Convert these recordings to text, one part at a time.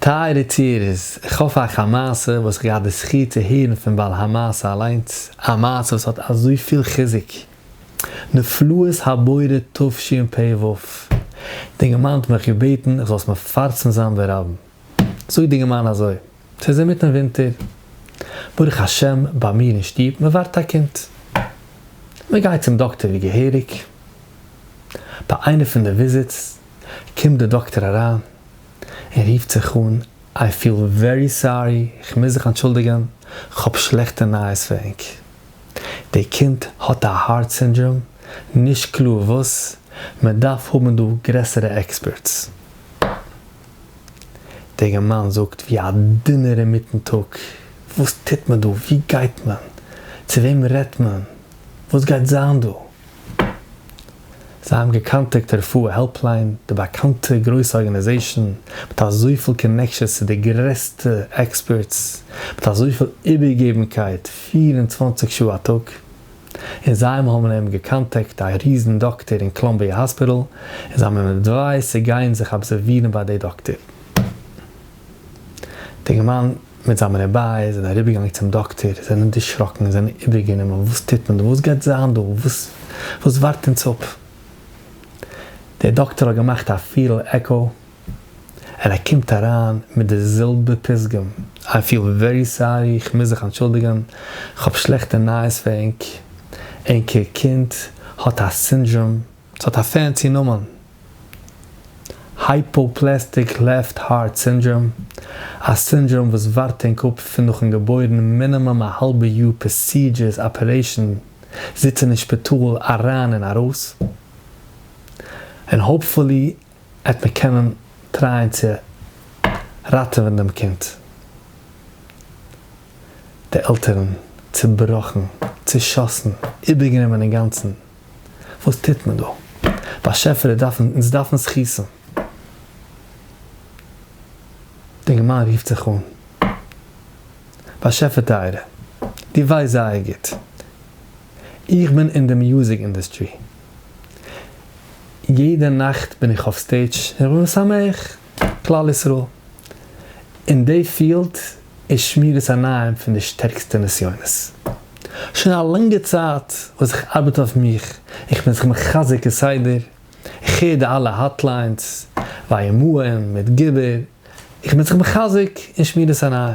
טייערע יצירות, איך האף אייך א מעשה וואס איך געהאט די זכי' צו הערן פון בעל המעשה אליינס, א מעשה וואס האט אזויפיל חיזוק. נפלאות הבורא תשפ ו, די גמ' האט מיך געבעטן איך זאל עס מפרסם זיין ברבים. זאגט די גמ' אזוי, ס'איז אינמיטן ווינטער, ברוך השם ביי מיר אין שטוב מען ווארט א קינד, מען גייט צום דאקטער ווי געהעריג, ביי איינע פון די וויזיטס קומט די דאקטער אריין, און רופט זיך אן, איי פיל ווערי סארי, כ'מוז זיך אנטשולדיגן, כ'האב שלעכטע נייעס פאר ענק. די קינד האט א הארט סינדראם, נישט קלאר וואס, מ'דארף האבן דא גרעסערע עקספערטס. דער געמיין זאגט ווי א דינער אינמיטן טאג, וואס טוט מען דא, וואו גייט מען, צו וועם רעדט מען, וואס גייט זיין דא? זיי האבן געקאנטעקט די רפואה העלפליין, די באקאנטע גרויסע ארגאניזעישאן מיט אזויפיל קאנעקשאנס צו די גרעסטע עקספערטס, מיט אזויפיל איבערגעבנקייט פֿיר און צוואַנציק שעה א טאג, און זיי האבן אים געקאנטעקט א ריזן דאקטער אין קלאמביע האספיטאל, און זיי האבן אים עדווייזט צו גיין זיך אבזערווירן ביי די דאקטער. די אינגערמאן מיט זיין בני בית זענען אריבערגעגאנגען צום דאקטער, זענען דערשראקן, זענען איבערגענומען, וואס טוט מען דא? וואס גייט זיין דא? וואס ווארט אונז אפ? דער דאקטער האט געמאכט א פיל עקאו, און ער קומט אריין מיט די זעלבע פתגם, איי פיל ווערי סארי, איך מוז זיך אנטשולדיגן, כ'האב שלעכטע נייעס פאר ענק, ענקער קינד האט א סינדראם, ס'האט א פענסי נאמען, הייפאפלעסטיק לעפט הארט סינדראם, א סינדראם וואס ווארט אין קאפ פון נאכן געבוירן מינימום א האלבע יאר פראסידזשערס אפערעישן זיצן אין שפיטאל אריין און ארויס, און האופפולי עט מען קענען טרייען צו ראטעווען דעם קינד, די עלטערן צובראכן, צושאסן, איבערגענומען אינגאנצן. וואס טוט מען דא? באשעפער איך דארף אונז דארפן זכות'ן. די גמרא רופט זיך אן, באשעפער טייערע, דו ווייסט זייער גוט, איך בין אין די מיוזיק אינדוסטרי, יעדע נאכט בין איך אויף סטעידש און ר' שמח, כלל ישראל, אין די פיעלד איז שמירת עיניים פון די שטערקסטע נסיונות. שוין א לאנגע צייט וואס איך ארבעט אויף מיך, איך בין זיך מחזק כסדר, איך הער די אלע האטליינס, וימאהל, מדגבר, איך בין זיך מחזק אין שמירת עיניים.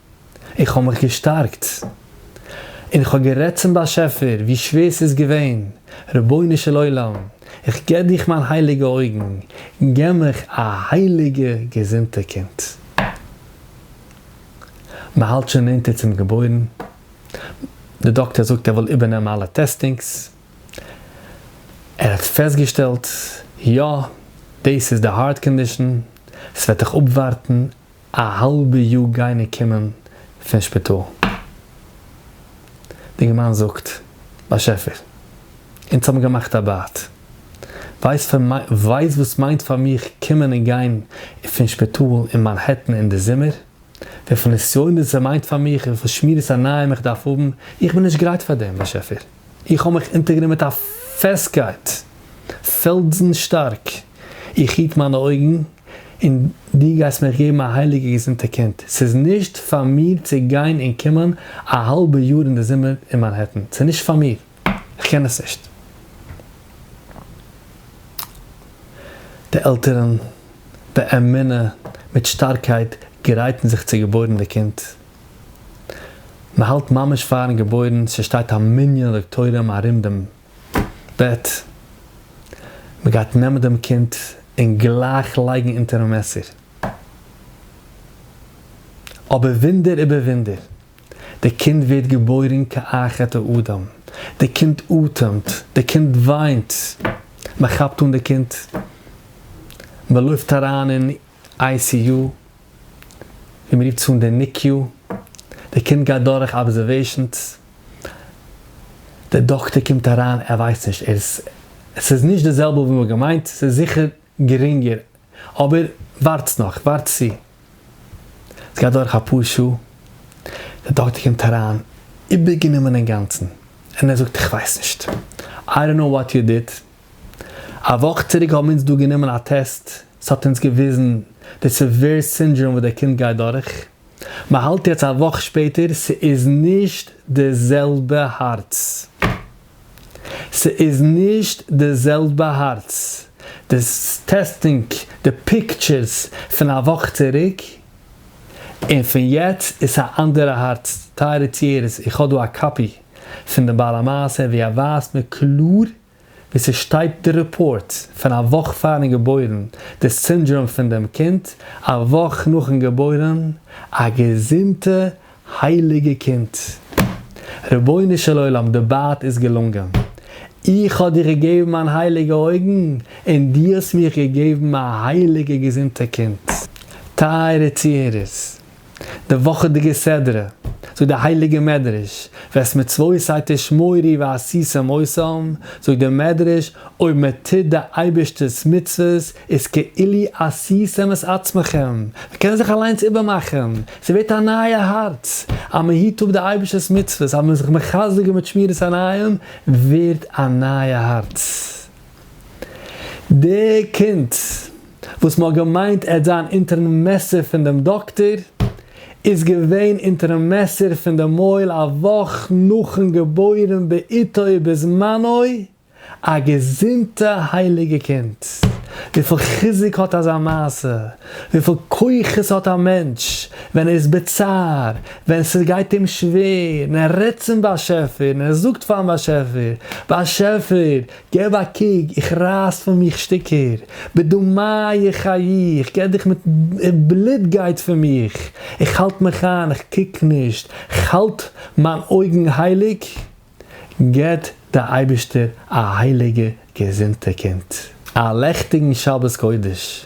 איך האב מיך געשטארקט און איך האב גערעדט צום באשעפער ווי שווער ס'איז געווען, רבונו של עולם, איך געב דיך מיין הייליגע אויגן, געב מיך א הייליגע געזונטע קינד. מ'האלט שוין נענטער צום געבוירן, די דאקטער זאגט ער וויל איבערנעמען אלע טעסטינגס, ער האט פעסטגעשטעלט, יא, דאס איז די הארט קאנדישאן, ס'וועט דיך אפווארטן א האלבע יאר גיין און קומען פון שפיטאל. די געמיינדע זאגט, באשעפער, אונז האבן געמאכט א בייט. ווייסט וואס מיינט פאר מיך קומען און גיין פון שפיטאל אין מאנהעטן אין די זומער? וויפיל נסיונות ס'מיינט פאר מיך, וויפיל שמירת עיניים איך דארף האבן? איך בין נישט גרייט פאר דעם, באשעפער. איך האָב מיך אונטערגענומען מיט אַ פֿעסטקײט, פֿעלדזן שטאַרק. איך היט מײַנע אױגן, און דו גײסט מיך געבן אַ הײליקע געזונטע קינד. ס'איז נישט פֿאַר מיר צו גײן און קומען אַ האַלבע יאָר אין דער זומער אין מאַנהעטן. ס'איז נישט פֿאַר מיר. איך קען עס נישט. די עלטערן, באמונה, מיט שטאַרקײט גרײטן זיך צו געבױרן דער קינד. מען האלט ממש פארן געבוירן, ס'שטייט א מנין דאקטוירים ארום דעם בעט, מען גייט נעמען דעם קינד און גלייך לייגן אונטערן מעסער, אבער וואונדער איבער וואונדער, די קינד ווערט געבוירן כאחד האדם, די קינד אטעמט, די קינד וויינט, מען כאפט אן די קינד, מען לויפט אריין אין איי סי יו, ווי מ'רופט עס אן די ניקי-יו, די קינד גייט דורך אבזערוועישאנס, די דאקטער קומט אריין, ער ווייסט נישט, ער איז, עס איז נישט די זעלבע ווי מ'האט געמיינט, ס'איז זיכער גרינגער, אבער ווארטס נאך, ווארטס צו, עס גייט דורך אפאר שעה, די דאקטער קומט אריין, איבערגענומען אינגאנצן, און ער זאגט איך ווייס נישט, איי דאנט נאו וואט יו דיד, א וואך צוריק האבן אונז דא גענומען א טעסט, ס'האט אונז געוויזן די סעווער סינדראם וואס דער קינד גייט דורך. מ'האלט יעצט א וואך שפעטער, ס'איז נישט די זעלבע הארץ. ס'איז נישט די זעלבע הארץ. די טעסטינג, די פיקטשערס פון א וואך צוריק און פון יעצט איז א אנדערע הארץ. טייערע צוהערערס, איך האב דא א קאפי פון די בעל המעשה ווי ער ווייזט מיר קלאר ווי ס'שטייט די רעפארט, פון א וואך פארן געבוירן, די סינדראם פון דעם קינד, א וואך נאכן געבוירן, א געזונטע הייליגע קינד. רבונו של עולם די בייט איז געלונגען. איך האב דיר געגעבן מיין הייליגע אויגן און דו האסט מיך געגעבן א הייליגע געזונטע קינד. טייערע צוהערערס. די וואכעדיגע סדרה, זאגט די הייליגע מדרש, וועסט מצוותיי תשמורי ועשיתם עושים, זאגט די מדרש, אויב מען טוט די אייבערשטער'ס מצוות איז כאילי עשיתם את עצמכם, מען קען זיך אליינס איבערמאכן, ס'ווערט א נייע הארץ, אז מען היט אפ די אייבערשטער'ס מצוות, אז מען איז זיך מחזק מיט שמירת עיניים, ווערט א נייע הארץ. די קינד וואס מ'האט געמיינט עט זיין אונטערן מעסער פון דעם דאקטער, איז געווען אונטערן מעסער פון די מויל א וואך נאכן געבוירן בעיתו ובזמנו, א געזונטע הייליגע קינד, וויפיל חיזוק האט אזא מעשה, וויפיל כוחות האט א מענטש ווען ער איז בצער, ווען ס'גייט אים שווער, און ער רעדט צום באשעפער, און ער זאגט פארן באשעפער, באשעפער, געב א קוק, איך רייס פון מיך שטיקער, בדמיי חיי, איך געב דיך מיט, בלוט גייט פון מיך, איך האלט מיך איין, איך קוק נישט, איך האלט מיין אויגן הייליג, געבט דער אייבערשטער א הייליגע געזונטע קינד, א לעכטיגן שבת קודש.